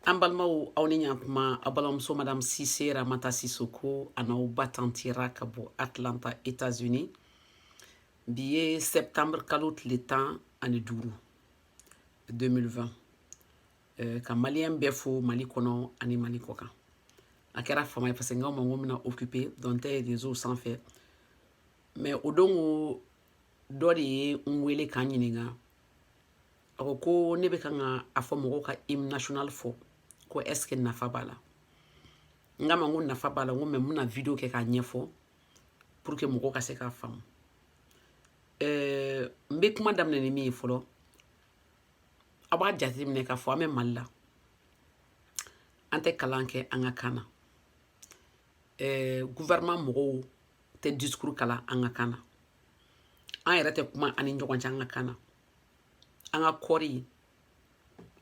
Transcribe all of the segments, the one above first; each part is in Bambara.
an balimaw aw ni ɲakuma aw balimamuso madame sise ramata sisoko a n'aw ba tanti ra ka bɔ atlanta états-unis bi ye septembre kalo tile tan ani duuru 2020 euh, ka maliyɛn bɛɛ fo mali kɔnɔ ani mali kɔ kan a kɛra fama ye parce que n k'aw ma ko n bɛna occupé dɔɔnin n tɛ ye réseau sanfɛ mais o don ko dɔ de ye n wele ka n ɲininka a ko ko ne bɛ kan ka a fɔ mɔgɔw ka hymne national fɔ ko est ce que nafa b'a la n k'a ma n ko nafa b'a la n ko mɛ n bɛna video kɛ k'a ɲɛfɔ pour que mɔgɔw ka se k'a faamu ɛɛ n bɛ kuma daminɛ ni min ye fɔlɔ aw b'a jateminɛ k'a fɔ an bɛ mali la an tɛ kalan kɛ an ka kan na ɛɛ gouvernement mɔgɔw tɛ discours kalan an ka kan na an yɛrɛ tɛ kuma an ni ɲɔgɔn cɛ an ka kan na an ka kɔɔri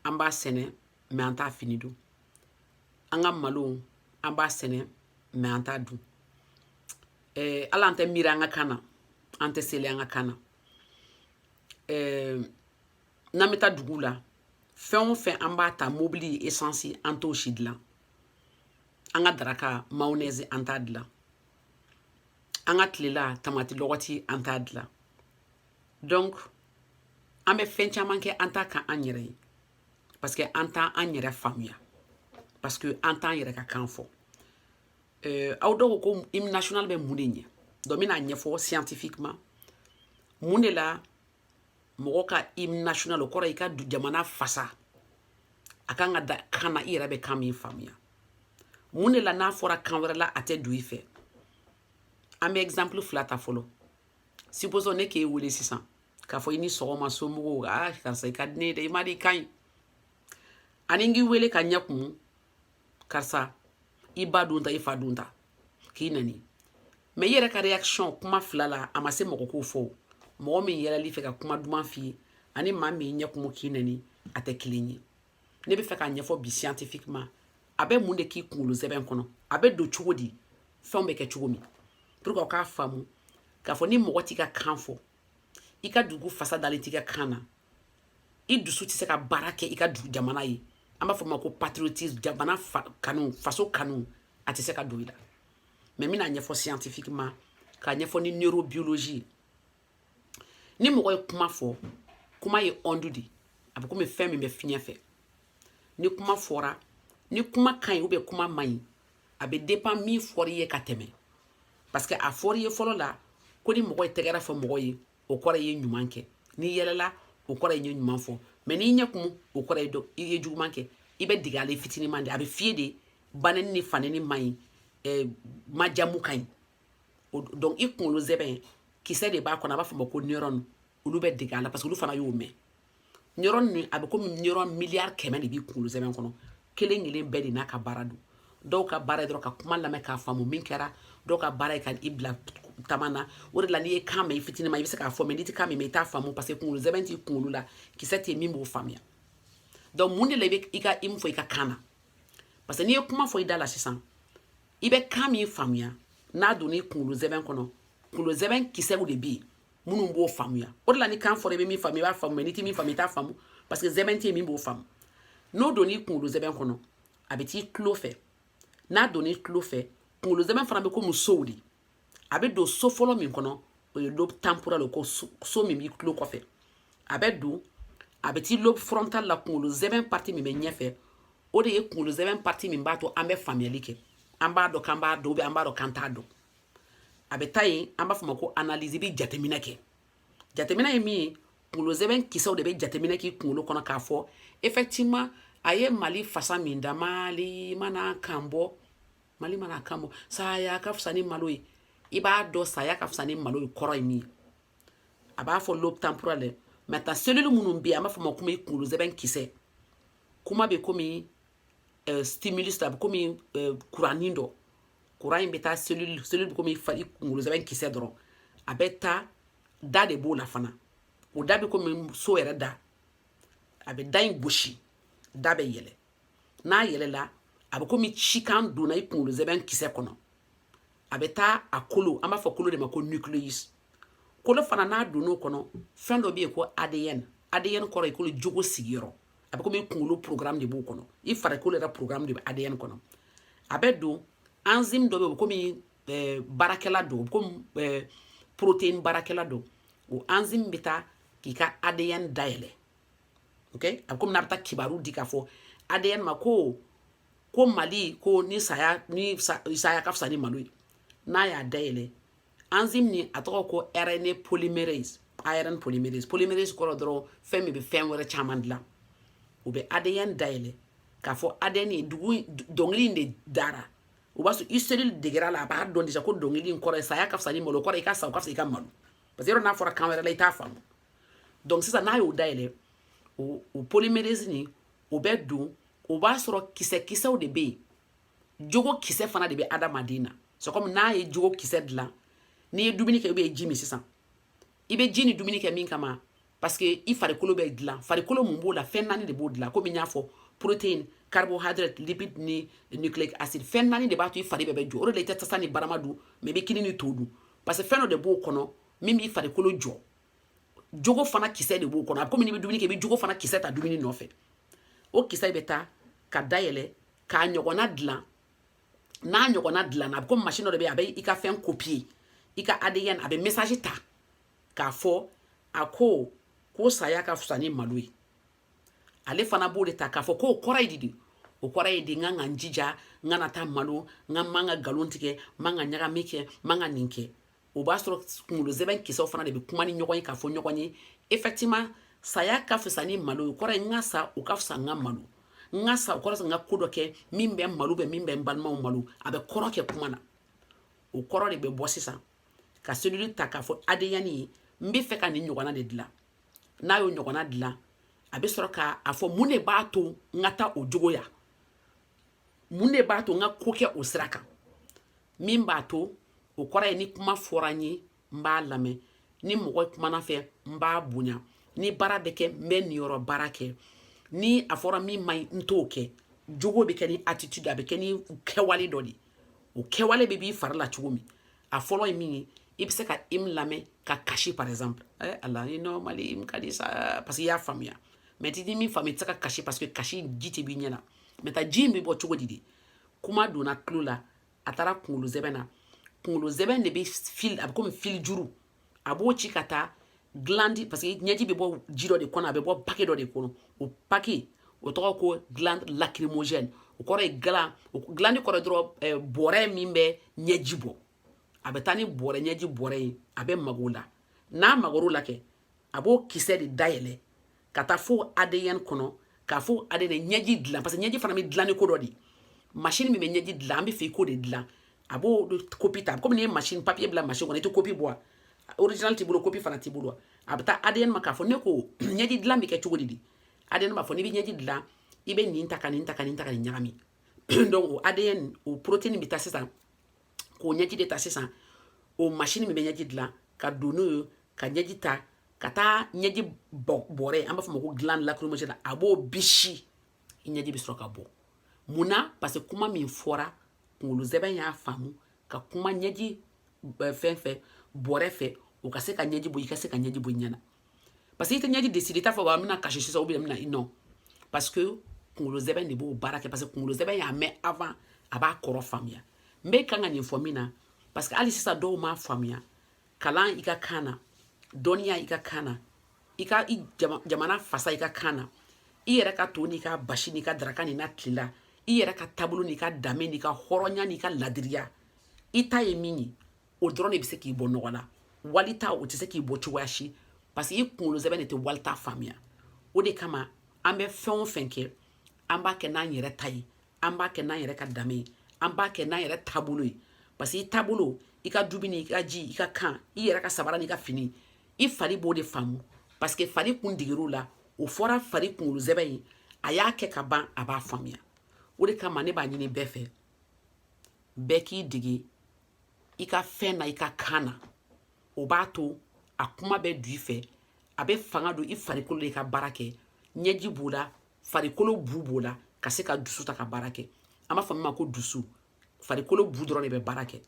an b'a sɛnɛ mɛ an t'a fini don an ka malo an b'a sɛnɛ mɛ an t'a dun eh, ala an tɛ miiri an ka kan na an tɛ seli an ka kan na eh, n'an bɛ taa duguw la fɛn o fɛn an b'a ta mobili esansi an t'o si dilan an ka daraka mayonɛzi an t'a dilan an ka tilela tamati lɔgɔti an t'a dilan donc an bɛ fɛn caman kɛ an t'a kɛ an yɛrɛ ye parce que an tɛ an yɛrɛ faamuya parce que an t'an yɛrɛ ka kan fɔ euh, aw dɔw ko hymne national bɛ mun de ɲɛ donc n bɛn'a ɲɛfɔ scientifiquement mun de la mɔgɔ ka hymne national o kɔrɔ i ka jamana fasa a kan ka da kan na i yɛrɛ bɛ kan min faamuya mun de la n'a fɔra kan wɛrɛ la a tɛ don i fɛ an bɛ exemple fila ta fɔlɔ supposons ne k'e wele sisan k'a fɔ i ni sɔgɔma somɔgɔw a karisa i ka di ne ye dɛ i ma di i ka ɲi ani n k'i wele ka ɲɛ kumu karisa i ba don ta i fa don ta k'i nani mɛ i yɛrɛ ka reaction kuma fila la a ma se mɔgɔ k'o fɔ mɔgɔ min yɛlɛl'i fɛ ka kuma duman f'i ye ani maa min ɲɛ kumu k'i nani a tɛ kelen ye ne bɛ fɛ k'a ɲɛfɔ bi scientifiquement a bɛ mun de k'i kunkolo sɛmɛ kɔnɔ a bɛ don cogo di fɛnw bɛ kɛ cogo min pour que aw k'a faamu k'a fɔ ni mɔgɔ t'i ka kan fɔ i ka dugu fasa dalen t'i ka kan na i dusu tɛ se ka baara kɛ i ka dugu jamana ye an b'a fɔ ma ko patriotisme jamana fa kanu faso kanu a tɛ se ka don i la mɛ n bɛn'a ɲɛfɔ scientifiquement k'a ɲɛfɔ ni neurobiologie ni mɔgɔ ye kuma fɔ kuma ye onde de a bɛ komi fɛn min bɛ fiɲɛ fɛ ni kuma fɔra ni kuma ka ɲi ubiyɛn kuma man ɲi a bɛ depan min fɔra i ye ka tɛmɛ parce que a fɔra i ye fɔlɔ la ko ni mɔgɔ ye tɛgɛrɛ fɔ mɔgɔ ye o kɔrɔ i ye ɲuman kɛ n'i yɛlɛla o kɔrɔ i ye ɲuman fɔ mɛ n'i ɲɛ kumu o kɔrɔ ye dɔ i ye juguman kɛ i bɛ dege a la i fitinin ma de a bɛ fɔ i ye de baneni ni faneni man ɲi eh, majamu ka ɲi o donc i kunkolo zɛbɛn kisɛ de b'a kɔnɔ an b'a fɔ ma ko neuron olu bɛ dege a la parce que olu fana y'o mɛn neuron nin a bɛ komi neuron miliyari kɛmɛ de b'i kunkolo zɛbɛn kɔnɔ kelen kelen bɛɛ de n'a ka baara don dɔw ka baara ye dɔrɔn ka kuma lamɛn k'a faamu min kɛra dɔw ka baara ye ka i bila tama na o de la n'i ye kan mɛn i fitini ma i bɛ se k'a fɔ mɛ n'i tɛ kan min mɛn i t'a faamu parce que kunkolo zɛbɛn t'i kunkolo la kisɛ tɛ min b'o faamuya donc mun de la i bɛ i ka hymne fɔ i ka kan na parce que n'i ye kuma fɔ i da la sisan i bɛ kan min faamuya n'a donna i kunkolo zɛbɛn kɔnɔ kunkolo zɛbɛn kisɛw de bɛ yen minnu b'o faamuya o de la ni kan fɔra i bɛ min faamu i b'a faamu mɛ n'i tɛ min faamu i t'a faamu parce que zɛbɛn tɛ yen min b'o faamu n'o donna i kunkolo zɛbɛn kɔnɔ a bɛ t'i tulo fɛ n'a donna i tulo fɛ kunkolo zɛbɛn fana bɛ komi sow de a bɛ don so fɔlɔ min kɔnɔ o ye lobe temporal ko so min b'i tulo kɔfɛ a bɛ don a bɛ t'i lobe frontal la kunkolo zɛbɛn parti min bɛ ɲɛfɛ o de ye kunkolo zɛbɛn parti min b'a to an bɛ faamuyali kɛ an b'a dɔn k'an b'a dɔn ubiyɛn an b'a dɔn k'an t'a dɔn a bɛ taa yen an b'a fɔ ma ko analyse i bɛ jateminɛ kɛ jateminɛ ye min ye kunkolo zɛbɛn kisɛw de bɛ jateminɛ k'i kunkolo kɔnɔ k'a fɔ effectivement a ye mali fasa min da mali mana kan bɔ mali mana kan bɔ saya ka fisa ni malo ye i b'a dɔn saya ka fisa ni malo ye kɔrɔ ye min ye a b'a fɔ lobe temporal dɛ mɛ ta selili minnu bɛ yen an b'a fɔ ma komi kunkolo zɛbɛn kisɛ kuma bɛ komi uh, stimulus a bɛ komi uh, eh, kuranin dɔ kuran in bɛ taa selili selili bɛ komi fari kunkolo zɛbɛn kisɛ dɔrɔn a bɛ taa da de b'o la fana o da bɛ komi so yɛrɛ da a bɛ da in gosi da bɛ yɛlɛ n'a yɛlɛla a bɛ komi cikan donna i kunkolo zɛbɛn kisɛ kɔnɔ a bɛ taa a kolo an b'a fɔ kolo de ma ko nucleus kolo fana n'a donn'o kɔnɔ fɛn dɔ bɛ yen ko adn adn kɔrɔ ye kolo jogo sigiyɔrɔ a bɛ komi i kunkolo programme de b'o kɔnɔ i farikolo yɛrɛ programme de bɛ adn kɔnɔ a bɛ don enzyme dɔ bɛ yen o bɛ komi eh, baarakɛla don o bɛ komi eh, protéine baarakɛla don o enzyme bɛ taa k'i ka adn dayɛlɛ okay a bɛ komi n'a bɛ taa kibaru di k'a fɔ adn ma ko ko mali ko ni saya ni saya ka fisa ni malo ye n'a y'a dayɛlɛ enzyme nin a tɔgɔ ko rna polymerase arn polymerase polymerase kɔrɔ dɔrɔn fɛn min bɛ fɛn wɛrɛ caman dilan u bɛ adn dayɛlɛ k'a fɔ adn ye dugu dɔnkili in de dara o b'a sɔrɔ i seli degera a la a b'a dɔn de sa ko dɔnkili in kɔrɔ ye saya ka fisa ni malo kɔrɔ i ka sa o ka fisa i ka malo parce que yɔrɔ n'a fɔra kan wɛrɛ la i t'a faamu donc sisan n'a y'o dayɛlɛ o o polymerase nin o bɛ don o b'a sɔrɔ kisɛ kisɛw de bɛ yen jogo kisɛ fana de bɛ adamaden na c'est comme n'a ye jogo kisɛ dilan n'i ye dumuni kɛ ou bien ji min sisan i bɛ ji ni dumuni kɛ min kama parce que i farikolo bɛ dilan farikolo mun b'o dilan fɛn naani de b'o dilan komi n y'a fɔ protéine carbohydrate lipide ni nucléique acide fɛn naani de b'a to i fari bɛɛ bɛ jɔ o de la i tɛ tasa ni barama dun mɛ i bɛ kini ni to dun parce que fɛn dɔ de b'o kɔnɔ min b'i farikolo jɔ jogo fana kisɛ de b'o kɔnɔ a bɛ komi n'i bɛ dumuni kɛ i bɛ jogo fana kisɛ ta dumuni nɔfɛ o kisɛ bɛ taa ka dayɛlɛ k'a ɲɔgɔnna dilan n'a ɲɔgɔnna dilanna a bɛ komi masini dɔ de bɛ yen a bɛ i ka fɛn kopiye i ka adn a bɛ message ta k'a fɔ a ko ko saya ka fisa ni malo ye ale fana b'o de ta k'a fɔ k'o kɔrɔ ye di o kɔrɔ ye di n kan ka n jija n kana taa malo n ka man ka nkalon tigɛ n man ka ɲagami kɛ n man ka nin kɛ o b'a sɔrɔ kungolo zɛbɛn kisɛw fana de bɛ kuma ni ɲɔgɔn ye k'a fɔ ɲɔgɔn ye effectivement saya ka fisa ni malo ye o kɔrɔ ye n ka sa o ka fisa n ka malo n ka sa o kɔrɔ n ka ko dɔ kɛ min bɛ malo bɛ min bɛ n balimaw malo a bɛ kɔrɔ kɛ kuma na o kɔrɔ de bɛ bɔ sisan ka selili ta k'a fɔ adn ye n bɛ fɛ ka nin ɲɔgɔnna de dilan n'a y'o ɲɔgɔnna dilan a bɛ sɔrɔ ka a fɔ mun de b'a to n ka taa o jogo ya mun de b'a to n ka ko kɛ o sira kan min b'a to o kɔrɔ ye ni kuma fɔra n ye n b'a lamɛn ni mɔgɔ kumana n fɛ n b'a bonya ni baara bɛ kɛ n bɛ n niyɔrɔ baara kɛ ni a fɔra min man ɲi n t'o kɛ jogo bɛ kɛ ni attitude a bɛ kɛ ni kɛwale dɔ de ye o kɛwale bɛ b'i fari la cogo min a fɔlɔ ye min ye i bɛ se ka hymne lamɛn ka kasi par exemple eh, ala ni normal hymne ka di sa parce que i y'a faamuya mɛ n'i tɛ min faamuya i tɛ se ka kasi parce que kasi ji tɛ b'i ɲɛ na maintenant ji in bɛ bɔ cogo di de kuma donna tulo la a taara kunkolo zɛbɛn na kunkolo zɛbɛn de bɛ fil a bɛ komi fil juru a b'o ci ka taa glandi parce que ɲɛji bɛ bɔ ji dɔ de kɔnɔ a bɛ bɔ pake dɔ de kɔnɔ o pake o tɔgɔ ko glande lacrymogène o kɔrɔ ye glan o glandi kɔrɔ dɔrɔn eh, bɔrɛ min bɛ ɲɛji bɔ a bɛ taa ni bɔrɛ ɲɛji bɔrɛ ye a bɛ mag'o la n'a magar'o la kɛ a b'o kisɛ de dayɛlɛ ka taa fo adn kɔnɔ k'a fɔ ale de ɲɛji dilan parce que ɲɛji fana bɛ dilan ni ko dɔ de ye machine min bɛ ɲɛji dilan an bɛ fɛ i k'o de dilan a b'o kopi ta komi n'i ye machine papier bila machine kɔnɔ i tɛ kopi bɔ a original t'i bolo kopi fana t'i bolo a bɛ taa adn ma k'a fɔ ne ko ɲɛji dilan bɛ kɛ cogo di de adn b'a fɔ n'i bɛ ɲɛji dilan i bɛ nin ta ka nin ta ka nin ta ka nin ɲagami donc o adn o protéine bɛ taa sisan k'o ɲɛji de ta sisan o masini min bɛ ɲɛji dilan ka don n'o ye ka ɲɛji ta ka taa ɲɛji bɔrɛ an b'a fɔ ma ko glande lacrymale a b'o bisi i ɲɛji bɛ sɔrɔ ka bɔ mun na parce que kuma min fɔra kunkolo sɛmɛ y'a faamu ka kuma ɲɛji fɛn fɛ bɔrɛ fɛ o ka se ka ɲɛji bɔ i ka se ka ɲɛji bɔ i ɲɛ na parce que i tɛ ɲɛji décidé i t'a fɔ wa an bɛna kasi sisan ou bien bɛna i nɔ parce que kunkolo sɛmɛ de b'o baara kɛ parce que kunkolo sɛmɛ y'a mɛn avant a b'a kɔrɔ faamuya n bɛ kan ka nin fɔ min na parce que hali sisan dɔw m'a faamuya kalan i ka kan na dɔnniya i ka kan na i ka i jamana fasa i ka kan na i yɛrɛ ka to n'i ka basi n'i ka daraka n'i ka tilela i yɛrɛ ka taabolo n'i ka danbe n'i ka hɔrɔnya n'i ka ladiriya i ta ye min ye o dɔrɔn de bɛ se k'i bɔ nɔgɔ la wali ta o tɛ se k'i bɔ cogoya si parce que i kunkolo sɛmɛ de tɛ wali ta faamuya o de kama an bɛ fɛn o fɛn kɛ an b'a kɛ n'an yɛrɛ ta ye an b'a kɛ n'an yɛrɛ ka danbe ye an b'a kɛ n'an yɛrɛ taabolo ye parce que i taabolo i ka dumuni i ka ji i ka kan i yɛrɛ ka sabara n'i ka fini i fari b'o de faamu parce que fari kun deger'o la o fɔra fari kunkolo sɛmɛ ye a y'a kɛ ka ban a b'a faamuya o de kama ne b'a ɲini bɛɛ fɛ bɛɛ k'i dege i ka fɛn na i ka kan na o b'a to a kuma bɛ du i fɛ a bɛ fanga don i farikolo la ka baara kɛ ɲɛji b'o la farikolo bu b'o la ka se ka dusu ta ka baara kɛ an b'a fɔ min ma ko dusu farikolo bu dɔrɔn de bɛ baara kɛ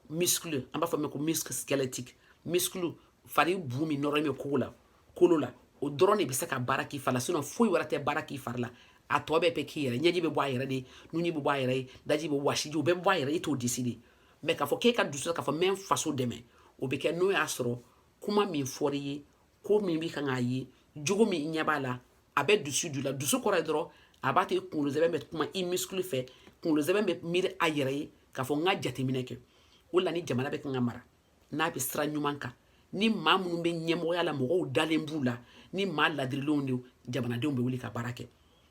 muscle an b'a fɔ min ma ko muscle squelettique muscle fari bu min nɔrɔlen bɛ kolo la kolo la o dɔrɔn de bɛ se ka baara k'i fari la sinɔn foyi wɛrɛ tɛ baara k'i fari la a tɔ bɛɛ bɛ k'i yɛrɛ ɲɛji bɛ bɔ a yɛrɛ ye nunji bɛ bɔ a yɛrɛ ye daji bɛ wɔsiji o bɛɛ bɛ bɔ a yɛrɛ i t'o décidé mais k'a fɔ k'e ka dusu k'a fɔ n bɛ n faso dɛmɛ o bɛ kɛ n'o y'a sɔrɔ kuma min fɔra i ye ko min bɛ kan k'a ye jogo min ɲɛ b'a la a bɛ dusu du la dusu kɔrɔ ye dɔrɔn a b'a to i kunkolo sɛmɛ bɛ kuma i muscle fɛ kunkolo sɛmɛ bɛ miiri a yɛrɛ ye k'a fɔ n ka jateminɛ kɛ o la ni jamana bɛ kan ka mara n'a bɛ sira ɲuman kan ni maa minnu bɛ ɲɛmɔgɔya la mɔgɔw dalen b'u la ni maa ladirilenw de jamanadenw bɛ wuli ka baara kɛ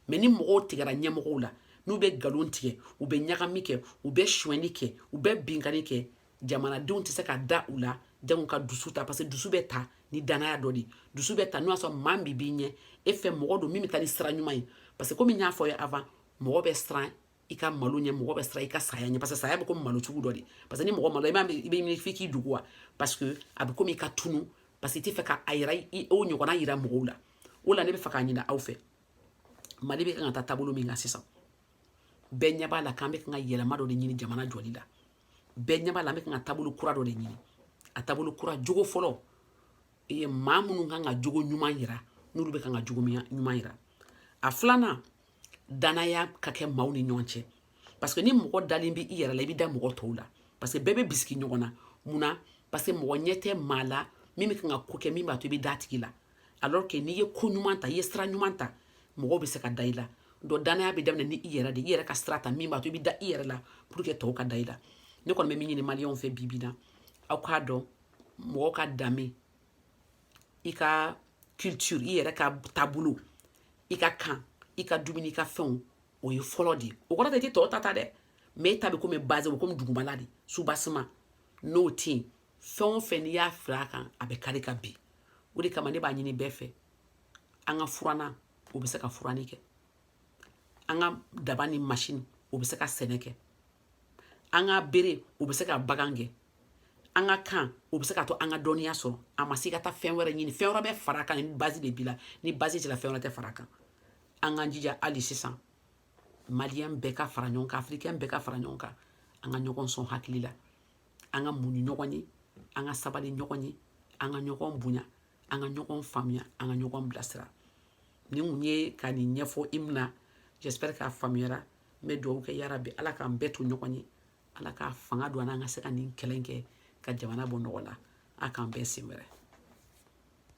mais ni mɔgɔw tigɛra ɲɛmɔgɔw la n'u bɛ nkalon tigɛ u bɛ ɲagami kɛ u bɛ suɲɛni kɛ u bɛ binkanni kɛ jamanadenw tɛ se ka da u la jango ka dusu ta parce que dusu bɛ ta ni dannaya dɔ de dusu bɛ ta n'o y'a sɔrɔ maa min b'i ɲɛfɛ mɔgɔ don min bɛ taa ni sira ɲuman ye parce que komi n y'a fɔ ye avant mɔgɔ bɛ siran i ka malo ɲɛ mɔgɔ bɛ siran i ka saya ɲɛ parce que saya bɛ komi malo cogo dɔ de parce que ni mɔgɔ malo i b'a i bɛ ɲini f'i k'i dogo wa parce que a bɛ komi i ka tunu parce que i tɛ fɛ ka a yira i o ɲɔgɔnna yira mɔgɔw la o la ne bɛ fɛ k'a ɲini aw fɛ mali bɛ kan ka taa taabolo min kan sisan bɛɛ ɲɛ b'a la k'an bɛ kan ka yɛlɛma dɔ de ɲini jamana jɔli la bɛɛ ɲɛ b'a la an bɛ kan ka taabolo kura dɔ de ɲini a taabolo kura jogo fɔlɔ ye maa minnu kan ka jogo ɲuman yira n'olu bɛ kan ka jogo ɲuman yira a filanan danaya ka kɛ maaw ni ɲɔgɔn cɛ parce que ni mɔgɔ dalen bɛ i yɛrɛ la i bɛ da mɔgɔ tɔw la parce que bɛɛ bɛ bisigi ɲɔgɔn na mun na parce que mɔgɔ ɲɛ tɛ maa la min bɛ kan ka ko kɛ min b'a to i bɛ da a tigi la alors que n'i ye ko ɲuman ta i ye sira ɲuman ta mɔgɔw bɛ se ka da i la donc danaya bɛ daminɛ ni i yɛrɛ de i yɛrɛ ka sira ta min b'a to i bɛ da i yɛrɛ la pour que tɔw ka da i la ne kɔni bɛ min ɲini maliyɛnw fɛ bi bi na aw k'a dɔn mɔgɔ ka danbe i ka culture i yɛrɛ ka taabolo i ka kan i ka dumuni i ka fɛnw o ye fɔlɔ de ye o kɔrɔ tɛ i tɛ tɔw ta ta dɛ mais e ta bɛ komi base o komi dugumala de soubassement n'o tɛ yen fɛn o fɛn n'i y'a fara a kan a bɛ kari ka bin o de kama ne b'a ɲini bɛɛ fɛ an ka furannan o bɛ se ka furanni kɛ an ka daba ni masini o bɛ se ka sɛnɛ kɛ an ka bere o bɛ se ka bagan gɛn an ka kan o bɛ se k'a to an ka dɔnniya sɔrɔ a ma se ka taa fɛn wɛrɛ ɲini fɛn wɛrɛ bɛ fara a kan ni base de b'i la ni base t'i la fɛn wɛrɛ tɛ fara a kan an k'an jija hali sisan maliyɛn bɛɛ ka fara ɲɔgɔn kan afirikɛn bɛɛ ka fara ɲɔgɔn kan an ka ɲɔgɔn sɔn hakili la an ka muɲu ɲɔgɔn ye an ka sabali ɲɔgɔn ye an ka ɲɔgɔn bonya an ka ɲɔgɔn faamuya an ka ɲɔgɔn bilasira nin kun ye ka nin ɲɛfɔ i mina j'espère k'a faamuyara n bɛ dugawu kɛ yarabi ala k'an bɛɛ to ɲɔgɔn ye ala k'a fanga don an na an ka se ka nin kɛlɛ kɛ ka jamana bɔ nɔgɔ la a k'an bɛn sen wɛrɛ